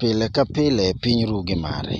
Pile ka pile piny ru gi mare.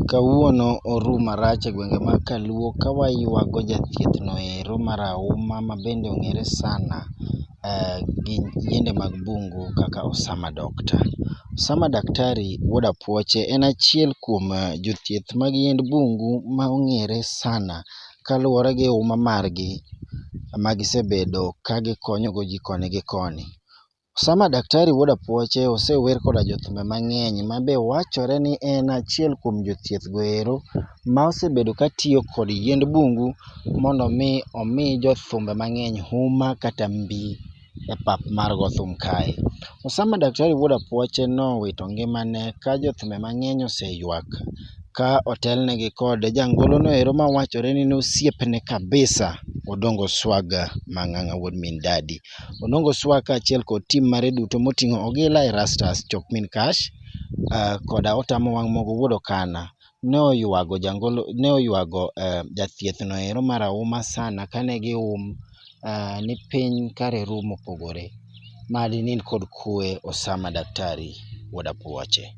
Kawuono oru marach e gwenge mag kaluo ka waywago jathieth no ero marahuma ma bende ong'ere sana gi yiende mag bungu kaka Osama Doctor. Osama Daktari wuod Apuoche en achiel kuom jothieth mag yiend bungu ma ong'ere sana kaluwore gi huma margi ma gisebedo ka gikonyogo ji koni gi koni. Osama Daktari wuod Apuoche osewer koda jothumbe mang'eny ma be wachore ni en achiel kuom jothieth go ero ma osebedo ka tiyo kod yiend bungu mondo mi omi jothumbe mang'eny huma kata mbi e pap mar go thum kae. Osama Daktari wuod Apuoche nowito ngimane ka jothumbe mang'eny oseywak ka otelnegi kod jangolo no ero ma wachore ni en osiepne kabisa Odongo Swaga Mang'ang'a wuod min Dadi. Onongo Swag kaachiel kod tim mare duto moting'o Ogila, Erastus, Chokmin Cash, uh, koda Otamo Wang' Mogo wuod Okana ne oywago jangolo ne oywago uh, jathieth no ero marahuma sana kane gium uh, ni piny kare rum opogore. Madi nind kod kue Osama Daktari wuod Apuoche.